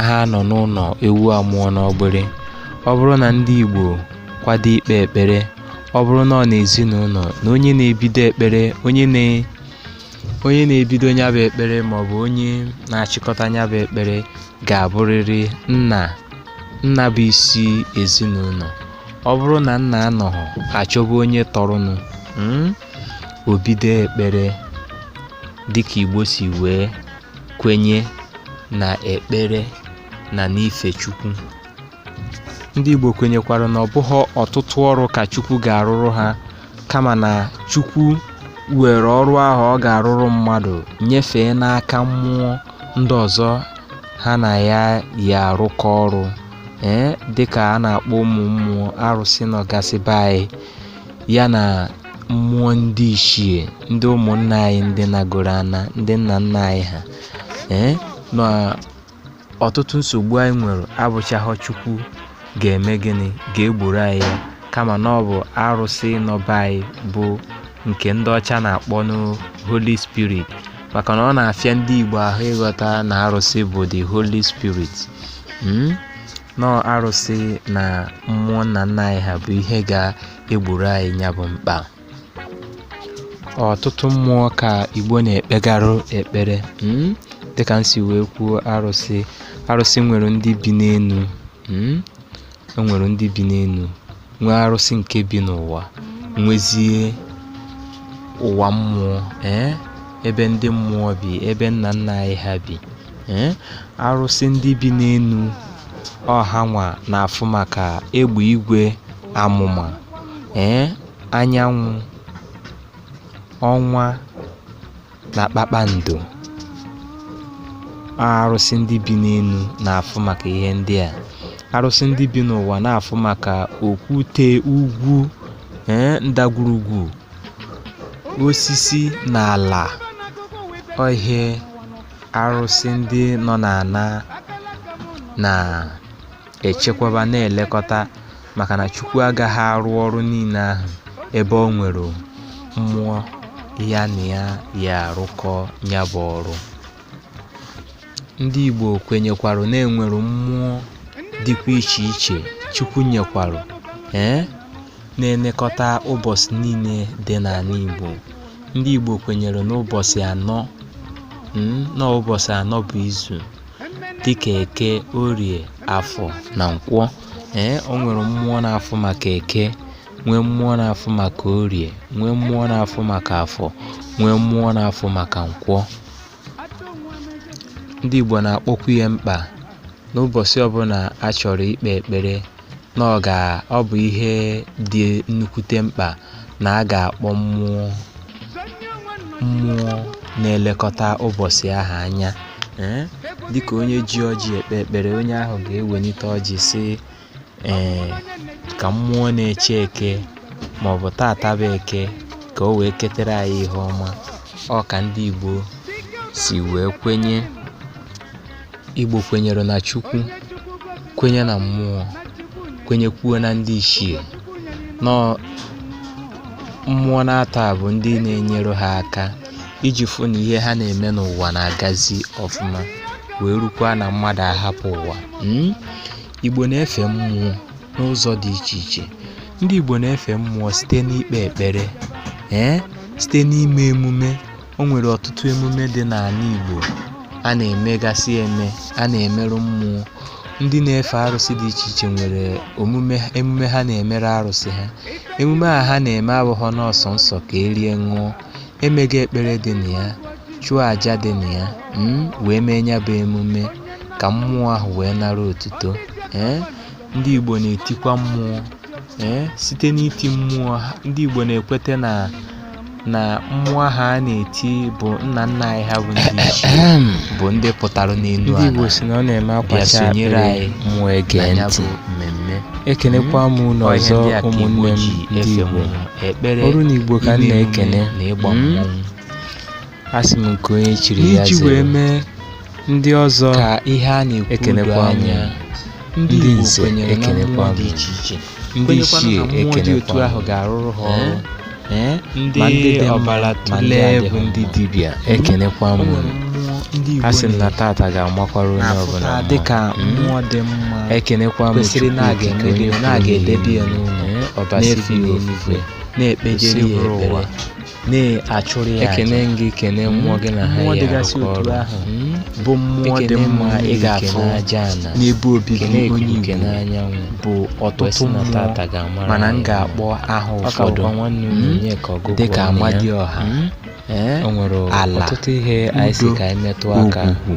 ha nọ n'ụlọ ewu amụọ n'ọgbịrị ọ bụrụ na ndị Igbo kwado ikpe ekpere ọ bụrụ na ọ n'ezinụlọ na onye na-ebido ekpere onye na onye na-ebido nya bụ ekpere maọbụ onye na-achịkọta nya bụ ekpere ga-abụrịrị nna nna bụ isi ezinụlọ ọ bụrụ na nna anọghị a chọba onye tọrọnụ hmm, o bido ekpere dịka igbo si wee kwenye na ekpere na n'ife chukwu ndị igbo kwenyekwara na ọ bụghị ọtụtụ ọrụ ka chukwu ga-arụrụ ha kama na chukwu were ọrụ ahụ ọ ga-arụrụ mmadụ nyefee n'aka mmụọ ndị ọzọ ha na ya yi arụkọ ọrụ ee dịka a na-akpọ ụmụ mmụọ arụsị nọ gasị be anyị ya na mmụọ ndị ichie ndị ụmụnna anyị ndị nagoro ana ndị nna nna anyị ha ee na ọtụtụ nsogbu anyị nwere abụchaghọ chukwu ga-eme gịnị ga-egboro anyị ya kama na ọ bụ arụsị nọ be anyị bụ nke ndị ọcha na-akpọnụ Holy Spirit maka na ọ na-afịa ndị Igbo ahụ ịghọta na arụsị bụ the Holy Spirit hmm? na ọ arụsị na mmụọ nna nna anyị ha bụ ihe ga-egboro anyị nya bụ mkpa ọtụtụ mmụọ ka Igbo na-ekpegarụ ekpere hmm? dịka m si wee kwuo arụsị arụsị nwere ndị bi n'elu hmm? o nwere ndị bi n'elu nwee arụsị nke bi n'ụwa nwezie ụwa mmụọ ee eh? ebe ndị mmụọ bi ebe nna nna anyị ha bi ee eh? arụsị ndị bi n'elu ọ hanwa na-afụ maka egbe igwe amụma ee eh? anyanwụ ọnwa na kpakpando arụsị ndị bi n'elu na-afụ maka ihe ndị a arụsị ndị bi n'ụwa na-afụ maka okwute ugwu ee ndagwurugwu osisi na ala ọ ihe arụsị ndị nọ n'ana na echekwaba na-elekọta maka na Chukwu agaghị arụ ọrụ niile ahụ ebe o nwere mmụọ ya na ya yi arụkọ nya bụ ọrụ ndị Igbo kwenyekwarụ na e nwere mmụọ dịkwa iche iche Chukwu nyekwarụ ee na-elekọta ụbọchị niile dị n'ala Igbo ndị Igbo kwenyere n'ụbọchị anọ hmm, na ụbọchị anọ bụ izu dịka eke orie afọ na nkwọ ee o nwere mmụọ na-afụ maka eke nwee mmụọ na-afụ maka orie nwee mmụọ na-afụ maka afọ nwee mmụọ na-afụ maka nkwọ ndị igbo na-akpọkwu ya mkpa n'ụbọsị ọbụla a chọrọ ikpe ekpere na ọ ga ọ bụ ihe dị nnukwute mkpa na a ga-akpọ mmụọ mmụọ na-elekọta ụbọsị ahụ anya ee dịka onye ji ọjị ekpe ekpere onye ahụ ga-ewelite ọjị sị ee ka mmụọ na-eche eke maọbụ taata bụ eke ka o wee ketere anyị ihe ọma ọ ka ndị Igbo si wee kwenye Igbo kwenyere na Chukwu, kwenye na mmụọ, kwenyekwuo na ndị ichie. Na ọ mmụọ naatọ a bụ ndị na-enyere ha aka iji fụ na ihe ha na-eme n'ụwa na-agazi ọfụma wee rukwa na mmadụ ahapụ ụwa. Mm? Igbo na-efe mmụọ n'ụzọ dị iche iche. Ndị Igbo na-efe mmụọ site n'ikpe ekpere, ee, site n'ime emume O nwere ọtụtụ emume dị n'ana Igbo a na-emegasị eme a na-emerụ mmụọ ndị na-efe arụsị dị iche iche nwere emume ha na-emere arụsị ha emume a ha na-eme abụghọ nọọ sọsọ ka e rie ṅụọ e mega ekpere dị na ya chụọ aja dị na ya mm, wee mee ya bụ emume ka mmụọ ahụ wee nara otuto ee eh, ndị Igbo na-etikwa mmụọ ee site n'iti mmụọ ha ndị Igbo na-ekweta na na mmụọ ha a na-eti bụ nna nna anyị ha bụ ndị ichie bụ ndị pụtara n'elu ndị Igbo ala si na ọ na-eme bịa akwacha sonyere akpịrị anyị mmụọ na ege ya ntị bụ mmemme ekenekwa m unu Ọ ihe ọzọ ndị a ka Igbo ụmụnne m ji ndị efe Igbo mmụọ, ekpere oru na Igbo ka m iri emume na-ekene na ịgba Mm. mmọnwụ asị m nke onye chiri ya iji wee mee ndị ọzọ ka ihe a na-ekwu ekenekwa anya ndị nze ekenekwa dị iche iche ndị ichie ekenekwa ahụ ga-arụrụ ha ọrụ ndị ọbara otule bụ ndị dibịa ekenekwa m a sị na taata ga-amakwara onye ọbụla dịka mmụọ dị mma ekenekwa m kwesịrị na-aga emebi na-aga edebe ya n'ụlọ ọbasi bi n'eluigwe na-ekpejere ya ekpere na-achụrụ ya ekene aja gị kene mmụọ gị na ha Mmụọ ya dịgasị arụkọ otu ọrụ ahụ. Mm. bụ mmụọ dị Ekene mma mmiri, ị ga-afụ kene aja ana n'ebe obibi kene onye ikuku Igbo kene anyanwụ bụ ọtụtụ kwesị na mmụọ taata ga-amara mana m anyị ga-akpọ aha ọ ka ụfọdụ bụkwa nwanne unu Mm. onye ka ọgụgụ dịka ọnụ ya. Amadioha Mm. ee o nwere ala, ọtụtụ ihe anyị sị udo, ka anyị metụ aka ogwugwu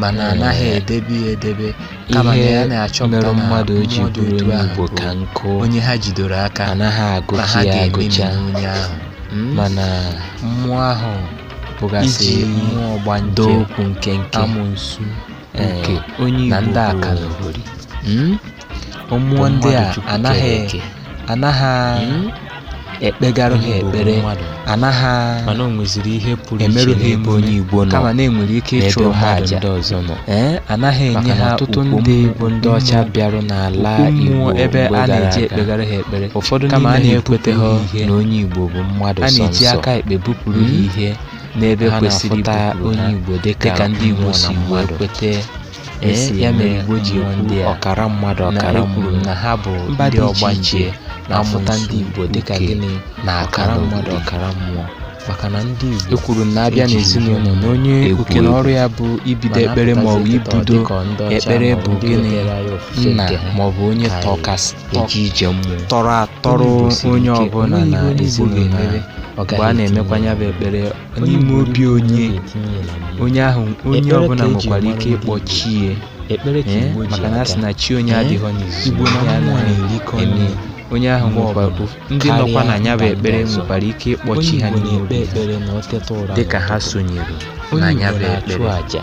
mana a naghị edebe ya edebe kama na ya na-achọpụta na ihe mere mmadụ ji bụrụ onye Igbo ka nkụ onye ha jidoro aka anaghị agụcha ya agụcha onye ahụ hmm? mana mmụọ ahụ bụgasị mmụọ ọgbanje okwu nkenke amụnsu nke onye Igbo na ndị akaloghori mmụọ ndị a mmadụ Chukwu anaghị kere eke. anaghị Hmm? ekpegarụ ha Onye bụ ekpere mmadụ? anaghị mana o nweziri ihe pụrụ emerụ iche ha n'ebe onye emume Igbo nọ kama na-enwere ike n'ebe ịchụrụ ha mmadụ aja ndị ọzọ nọ ee anaghị enye maka na ha ọtụtụ ukwu ndị mmụọ- bụ ndị ọcha mmụọ- bịarụ n'ala ukwu Igbo mmụọ ebe mgbe a gara na-eji aga. ekpegara ha ekpere ụfọdụ kama a n'ime ha na-ebupụ ekweteghị ha ihe na onye Igbo bụ mmadụ a sọ na-eji nsọ aka ekpe bupụrụ ha Hmm? ihe n'ebe ha kwesịrị na-afụta ibupụrụ onye ha Igbo dịka dịka ndị Igbo mmụọ na si wee mmadụ. kweta e si ya mere Igbo ji ekwu ọkara mmadụ ọkara kwuru na ha bụ ndị ọgbanje na-afụta ndị Igbo dịka gịnị na ọkara mmadụ ọkara mmụọ maka na ndị Igbo ekwuru na a bịa n'ezinụlọ na onye okere ọrụ ya bụ ibido ekpere ma ọ bụ ibudo ekpere bụ gịnị nna ma ọ bụ onye tọkasị eji eje mmụọ tọrọ atọrọ onye ọbụla na ezinụlọ mgbe a na-emekwa ya bụ ekpere n'ime obi onye onye ahụ onye ọbụla nwekwara ike ịkpọ chi ya ekpere ka ee Igbo ji maka na a sị aga na chi onye Ee, adịghọ n'izu Igbo na ya mmụọ anaghị na-erikọ eme nri. onye ahụ Mgbe nwekwara ọbụla, ndị karịa nọkwa na ya bụ mba ndị ekpere ọzọ. nwekwara ike ịkpọ onye chi ha Igbo n'ime na-ekpe obi ha ekpere na o teta ụra dịka ha n'ụtụtụ. sonyere na onye ya Igbo bụ na-achụ ekpere aja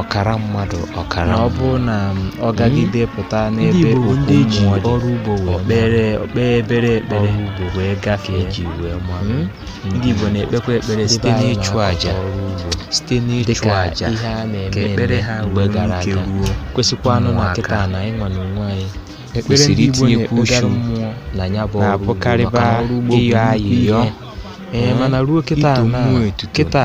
ọkara mmadụ ọkara na ọ bụ na ọ gagide pụta n'ebe okwu mmụọ ọrụ ugbo okpere o kpee obere ekpere ugbo wee gafee eji wee mara ndị Igbo na-ekpekwa ekpere site n'ịchụ àjà site n'ịchụ àjà ihe a na-eme ekpere ha mgbe gara aga kwesịkwanụ na kịta na anyịnwa na onwe anyị kwesịrị itinyekwu uchu na ya bụ ọrụ ugbo maka ọrụ ugbo bụ ihe mana ruo kịta kịta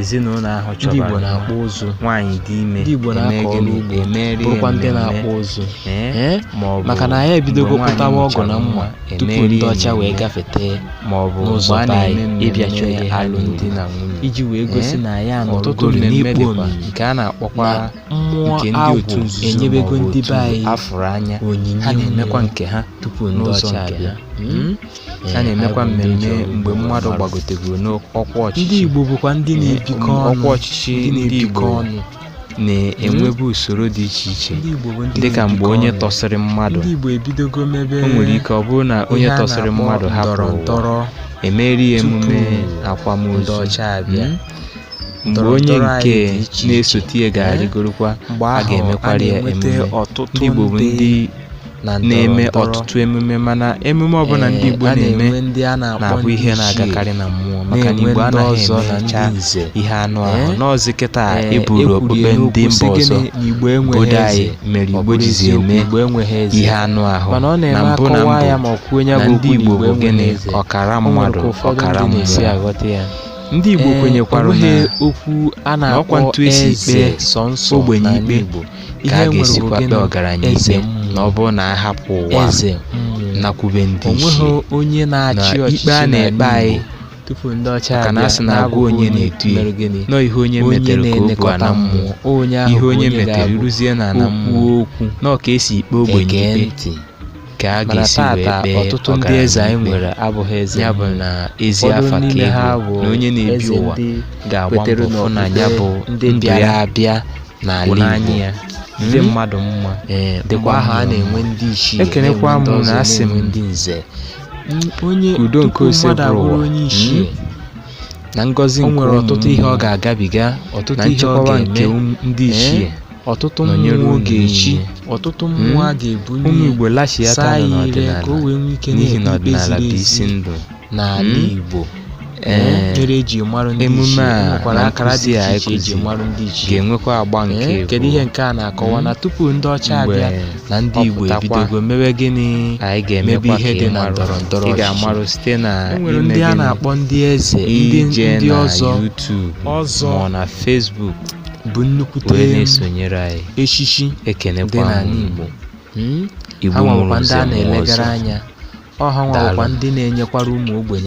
ezinụlọ ahụ ndị Igbo chọbara na-akpụ nwa. ụzụ nwaanyị dị ime ndị Igbo eme na-akọ ọrụ gịnị? ugbo Emeri bụrụkwa ndị ememme. na-akpụ ụzụ Ee, Ee, ma ọ bụ maka na anyị ebidogo mgbe nwaanyị kpụtawa ọgụ mụchara na mma nwa, tupu emeri ndị ọcha wee ememme. gafete ma ọ bụ n'ụzọ mgbe a be anyị na-eme ịbịa chọọ mmemme ihe ha alụmdi na nwunye iji wee gosi Ee, na anyị ọtụtụ anọrọgoro mmemme n'ikpe dịkwa omimi nke a na-akpọkwa na mmụọ nke ndị otu agwụ nzuzo enyebego ma ọ bụ ndị otu be anyị a fụrụ anya onyinye ha na-emekwa mmụọ nke ha tupu ndị n'ụzọ ọcha nke abịa ha. Mm? a na-emekwa mmemme mgbe mmadụ gbagotegoro n'ọkwa ọchịchị ndị Igbo bụkwa ndị na-ebikọ ọnụ ọkwa ọchịchị ndị Igbo na-enwebu usoro dị iche iche dịka mgbe onye tọsịrị mmadụ o nwere ike ọ bụrụ na onye tọsịrị mmadụ hapụrụ ụwa emeri ya emume akwamozu hmm? mgbe onye nke na-esote ya ga-arịgorokwa a ga-emekwara ya emume ndị Igbo bụ ndị na-eme ọtụtụ emume mana emume ọbụla ndị Igbo na-eme na-abụ ihe na-agakarị na mmụọ maka na Igbo anaghị emecha ihe anụ ahụ na ọ zi kịta e buru okpukpe ndị mba ọzọ obodo anyị mere Igbo jizi eme ihe anụ ahụ na mbụ na mbụ na ndị Igbo bụ gịnị ọkara mmadụ ọkara mmụọ ndị Igbo kwenyekwara na ọ kwa etu e si ekpe ogbenye ikpe ka a ga-esikwa kpee ọgaranya ikpe na ọ bụrụ na a hapụ ụwa eze nakwube ndị ichie o nweghị onye na-achị na ikpe a na-ekpe anyị tupu ndị ọcha maka na a sị na agwa onye na-edu ya ụnọ ihe onye metere ka o bu ana mmụọ onye ahụ ihe onye metere ruzie na ana mmụọ ọ kwanụ ka e si ekpe ogbenye ikpe ka a mana ga-esi wee tata kpee ọtụtụ ndị ọgaranya eze anyị ikpe. nwere abụghị eze ya bụ na ezi ụfọdụ afa ka n'ime ha ego bụ na onye na-ebi eze ụwa ndị ga-agba kwetere mbọ fụ na ya bụ n'okpukpe ndị ndụ bịara ya abịa bụ n'ala n'anya Igbo ya ndị Mm. mmadụ mma ee mgbe dịkwa ahụ a mma. na-enwe ndị ichie Ekenekwa na-enwe ndị m na ọzọ, asị m na-enwe ndị nze onye ka udo nke tupu ose mmadụ bụrụ abụrụ ụwa. onye ichie na ngọzi o nke nwere ụmụ ọtụtụ ihe ọ mmụọ, ga-agabiga ọtụtụ na ihe ọ nchekwa nke ga-eme ụmụ- ndị ee, ichie ọtụtụ Nọnyere mmụọ unu ga-echi niile. ọtụtụ Mm. mmụọ a ga-ebuli ụmụ ya igbo lachiata saa nọ ya ire ka o n'ọdịnala wee nwee ike n'ihi na na-ekpe ikpe ọdịnala ziri bụ isi ezi ndụ n'ala Mm. igbo Ee. mere eji mara ndị Emume ichie a nwekwara na akara dị nkụzi a iche iche eji ekụzi mara ndị ichie ga-enwekwa agba nke Ee, kedu abụọ. ihe nke a na-akọwa Mm. na tupu ndị ọcha Mgbe abịa na ndị igbo ọ pụtakwa, ebidogo mewe gịnị anyị mebe ga-emekwa ihe ka dị ị na marụ ndọrọ ndọrọ ị ọchịchị. ga-amarụ site na e nwere ime ndị a gịnị? na-akpọ ndị eze ndị ije ndị na ọzọ YouTube ọzọ. ma ọ na Facebook bụ nnukwute wee na-esonyere anyị echichi dị ekenekwa n'ala m Igbo Hmm? igbo ha mụrụ nwekwa ndị nze a mụọ na-elegara ọzọ anya ọ ha nwekwa Daalụ. ndị na-enyekwara ụmụ ogbenye